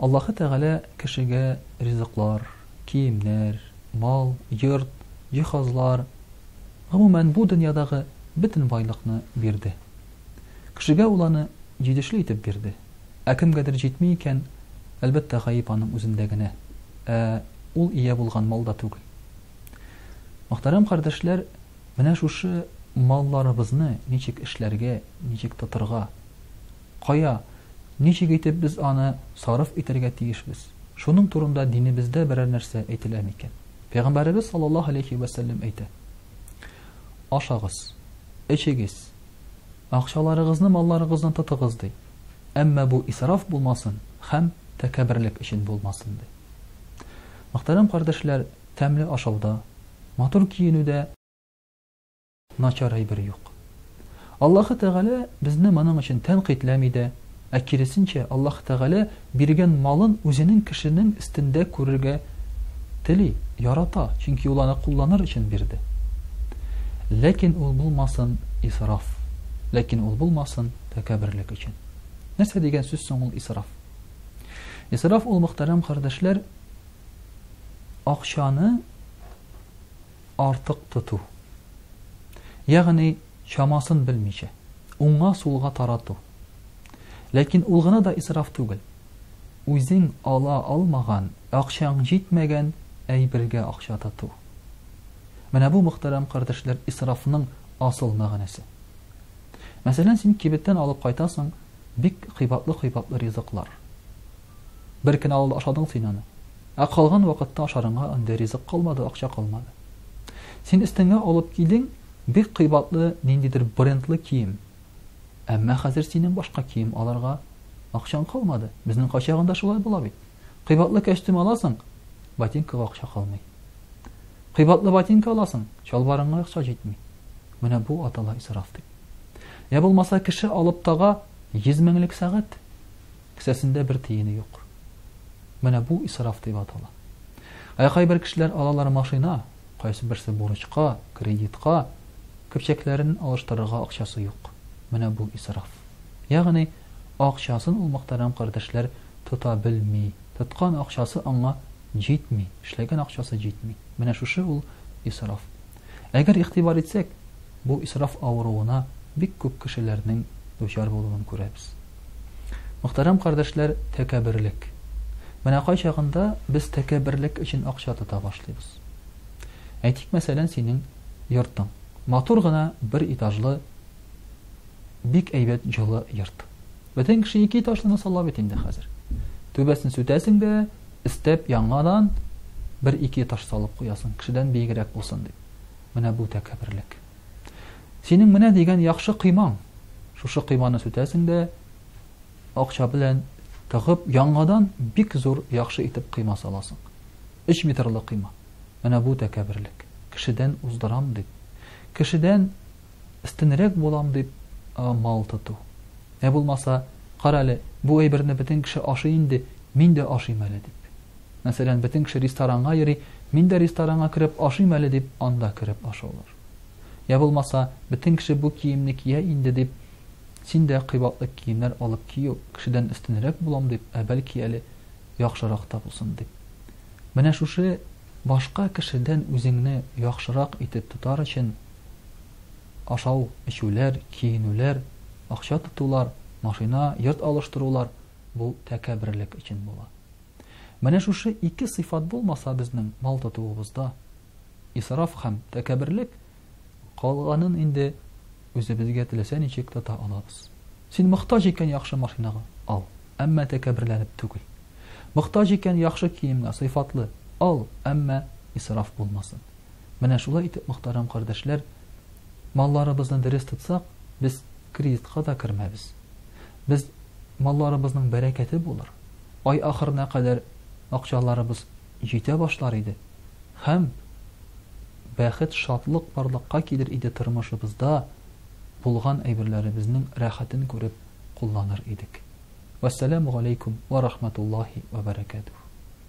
Аллаһы Тәгалә кешегә ризыклар, киемнәр, мал, йорт, җиһазлар, гомумән, бу дөньядагы бөтен байлыкны бирде. Кешегә ул аны җидешле итеп бирде. Ә кемгәдер җитми икән, әлбәттә, гаеп аның үзендә генә, ә ул ия булган малда түгел. Мөхтәрәм кардәшләр, менә шушы малларыбызны ничек эшләргә, ничек тотырга, Кая, ничек итеп без аны сарыф итәргә тиешбез? Шуның турында динебездә берәр нәрсә әйтелә микән? Пәйгамбәребез саллаллаһу алейһи вә сәлләм әйтә. Ашагыз, эчегез, акчаларыгызны малларыгыздан тотыгыз ди. Әмма бу исраф булмасын һәм тәкәбберлек өчен булмасын ди. Мөхтәрәм кардәшләр, тәмле ашауда, матур киенүдә Начар әйбер юк. Аллаһы Тәгалә безне моның өчен тәнкыйтьләми дә, ә киресенчә, Аллаһы Тәгалә биргән малын үзенең кешенең өстендә күрергә тели, ярата, чөнки ул аны кулланыр өчен бирде. Ләкин ул булмасын исраф, ләкин ул булмасын тәкәбберлек өчен. Нәрсә дигән сүз соң ул исраф? Исраф ул мөхтәрәм кардәшләр акчаны артык тоту, ягъни чамасын белмичә, уңга-сулга тарату. Ләкин ул гына да исраф түгел. Үзең ала алмаган, акчаң җитмәгән әйбергә акча тоту. Менә бу мөхтәрәм кардәшләр исрафның асыл мәгънәсе. Мәсәлән, син кибеттән алып кайтасың бик кыйбатлы-кыйбатлы ризыклар. Бер көн авылда ашадың син аны. Ә калган вакытта ашарыңа андый ризык калмады, акча калмады. Син өстеңә алып килдең бик кыйбатлы ниндидер брендлы кием. Әмма хәзер синең башка кием алырга акчаң калмады. Безнең кайчагында шулай була бит. Кыйбатлы кәчтүм аласың, ботинкага акча калмый. Кыйбатлы ботинка аласың, чалбарыңа акча җитми. Менә бу атала исраф дип. Я булмаса кеше алып тага 100 меңлек сәгать. Кесәсендә бер тиене юк. Менә бу исраф дип атала. Ә кайбер кешеләр алалар машина, кайсыберсе бурычка, кредитка, көпчәкләрен алыштырырга акчасы юк. Менә бу исраф. Ягъни, акчасын ул мөхтәрәм кардәшләр тота белми, тоткан акчасы аңа җитми, эшләгән акчасы җитми. Менә шушы ул исраф. Әгәр игътибар итсәк, бу исраф авыруына бик күп кешеләрнең дучар булуын күрәбез. Мөхтәрәм кардәшләр, тәкәбберлек. Менә кайчагында без тәкәбберлек өчен акча тота башлыйбыз. Әйтик, мәсәлән, синең йортың. Матур гына бер этажлы бик әйбәт җылы йорт. Бөтен кеше ике этажлыны сала бит инде хәзер. Түбәсен сүтәсең дә, өстәп яңадан бер ике этаж салып куясың, кешедән биегрәк булсын дип. Менә бу тәкәбберлек. Синең менә дигән яхшы коймаң. Шушы койманы сүтәсең дә акча белән тыгып, яңадан бик зур, яхшы итеп койма саласың. Өч метрлы койма. Менә бу тәкәберлек. Кешедән уздырам дип, кешедән өстенрәк булам дип мал тоту. Ә булмаса, кара әле, бу әйберне бөтен кеше ашый инде, мин дә ашыйм әле дип. Мәсәлән, бөтен кеше ресторанга йөри, мин дә ресторанга кереп ашыйм әле дип, анда кереп ашаулар. Йә булмаса, бөтен кеше бу киемне кия инде дип, син дә кыйбатлы киемнәр алып кию, кешедән өстенрәк булам дип, ә бәлки әле яхшырак та булсын дип. Менә шушы башка кешедән үзеңне яхшырак итеп тотар өчен ашау, эчүләр, киенүләр, акча тотулар, машина, йорт алыштырулар бу тәкәбберлек өчен була. Менә шушы ике сыйфат булмаса безнең мал тотуыбызда исраф һәм тәкәбберлек, калганын инде үзебезгә теләсә ничек тота алабыз. Син мохтаҗ икән яхшы машинага, ал, әмма тәкәбберләнеп түгел. Мохтаҗ икән яхшы киемгә, сыйфатлы, ал, әмма исраф булмасын. Менә шулай итеп, мохтарам кардәшләр, малларыбызны дөрес тотсак, без кредитка да кермәбез. Без малларыбызның бәрәкәте булыр. Ай ахырына кадәр акчаларыбыз җитә башлар иде. Һәм бәхет, шатлык барлыкка килер иде тормышыбызда, булган әйберләребезнең рәхәтен күреп кулланыр идек. Вәссәламу галәйкүм вә рахматуллаһи вә бәрәкәтүһ.